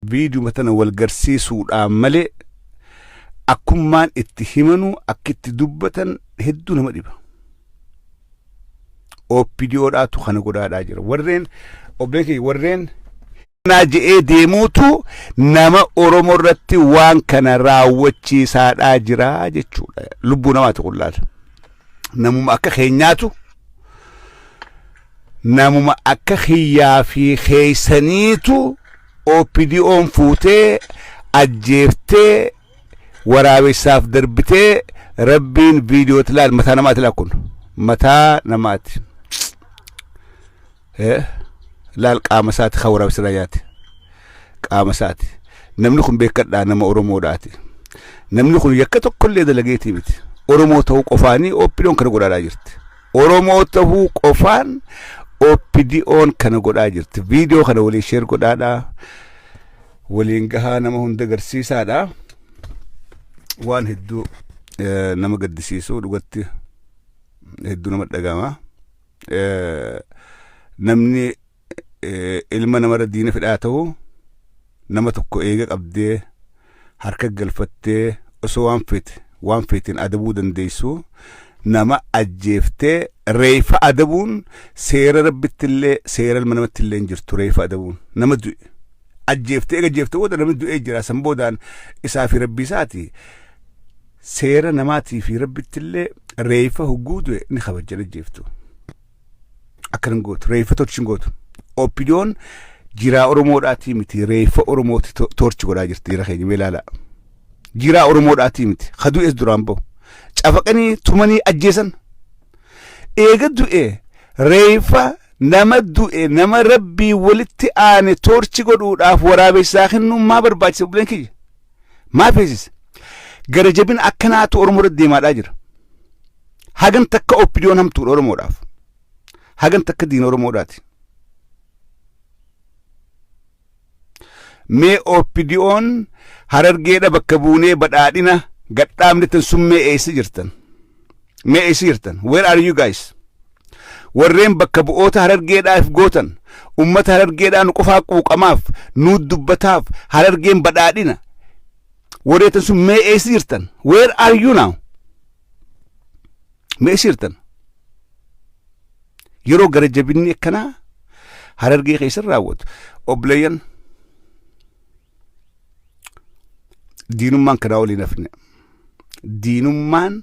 Viidiyuma tana wal garsiisuudhaan malee akkummaan itti himanu akki itti dubbatan hedduu nama dhiba. OPDO dhaatu kana godhaadhaa jira. Warreen obbeekee warreen naa je'ee deemuutu nama Oromoo irratti waan kana raawwachiisaadhaa jira jechuudha. Lubbuu namaati kun laala. Namuma akka keenyaatu namuma akka kiyyaa fi keeysaniitu OPDOn fuutee ajjeeftee waraabessaaf darbitee rabbiin viidiyootti laal mataa namaati laal kun mataa namaati Eh, laal qaama isaati kan waraabessa irraa nyaate qaama isaati namni kun beekadhaa nama oromoodhaati namni kun yakka tokkollee dalageetii miti oromoo ta'uu qofaanii OPDOn kana godhaadhaa jirti Oromoo tahuu qofaan OPDOn kana godhaa jirti. Viidiyoo kana waliin sheer godhaadhaa. Waliin gahaa nama hunda garsiisaadhaa. Waan hedduu eh, nama gaddisiisuu dhugatti hedduu nama dhagama. Eh, Namni ilma namarra diina fedhaa ta'u nama tokko eega qabdee harka galfattee osoo waan feete waan feeteen adabuu dandeessu nama ajjeeftee reefa adabuun seera rabbitti illee seera ilma namatti illee hin jirtu reefa adabuun nama du'e ajjeeftee eega ajjeefte booda namni du'ee jira san boodaan isaa fi rabbii isaati seera namaatii fi rabbitti illee reefa hogguu du'e ni kabajjan ajjeeftu. Akkan hin gootu. Reeffa torchi hin gootu. Oppidiyoon jiraa Oromoodhaatii miti. Reeffa Oromooti to- torchi godhaa jirti jira keenya mee ilaalaa. Jiraa Oromoodhaatii miti. Ka du'es duraan bahu. Cafaqanii tumanii ajjeesan. Eega du'e reeffa nama du'e nama rabbii walitti aane torchi godhuudhaaf waraabessaa kennuun maa barbaachisa buleen kiyya. Maa feesise? Gara jabina akkanaatu Oromoo irratti deemaadhaa jira. Hagan takka oppidiyoon hamtuudha Oromoodhaaf. Hagan takka diina Oromoodhaati. Mee oppidiyoon harargeedha bakka buunee badhaadhina gadhaabne tan sun mee eessa jirtan? Mee eessa jirtan? Where are you guys? Warreen bakka bu'oota harargeedhaaf gootan ummata harargeedhaa nu qofaa quuqamaaf nu dubbataaf harargeen badhaadhina warreetan sun mee eessa jirtan? Where are you now? ma eessa jirtan yeroo gara jabinni akkanaa harargee keessan raawwatu obboleeyyan diinummaan kanaa olii hin hafne diinummaan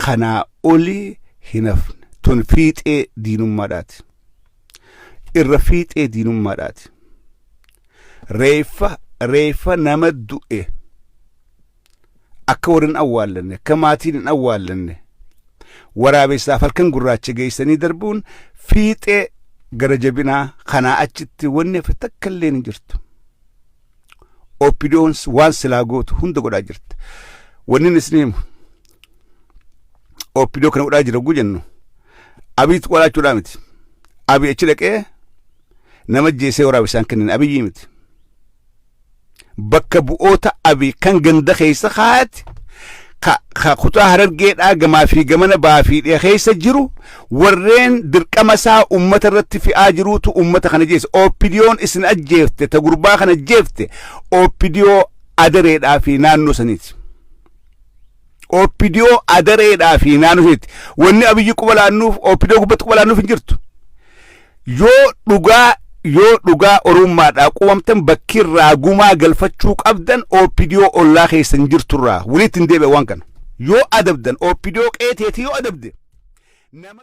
kanaa olii hin hafne tun fiixee diinummaadhaati irra fiixee diinummaadhaati reeffa reeffa nama du'e akka warri hin awwaallanne akka maatiin hin awwaallanne waraabessaaf halkan gurraacha geessanii darbuun fiixee gara jabinaa kanaa achitti wanni hafe takka illee hin jirtu. Oppidoon waan silaa gootu hunda godhaa jirti. Wanni isin himu oppidoo kana godhaa jira oguu jennu abiitti qolaachuudhaa miti. Abii achi dhaqee nama jeesee waraabessaan kennin abiyyii miti. bakka bu'oota abi kan ganda keessa kaa'ate ka, ka kutaa harargeedhaa gamaa fi gamana baa fi dhiha keessa jiru warreen dirqama isaa ummata irratti fi'aa jiruutu ummata kana jeessa opidiyoon isin ajjeefte ta gurbaa kana ajjeefte opidiyoo adareedhaa fi naannoo saniiti Oopidiyoo adareedhaa fi naannoo isheetti. Wanni abiyyi quba laannuuf oopidiyoo gubbatti quba laannuuf hin jirtu. Yoo dhugaa yoo dhugaa oromummaadhaa qubamtan bakki irraa gumaa galfachuu qabdan oopidiyoo ollaa keessan jirtu irraa walitti hin deebi'a waan kana. Yoo adabdan oopidiyoo qeeteetii yoo adabde nama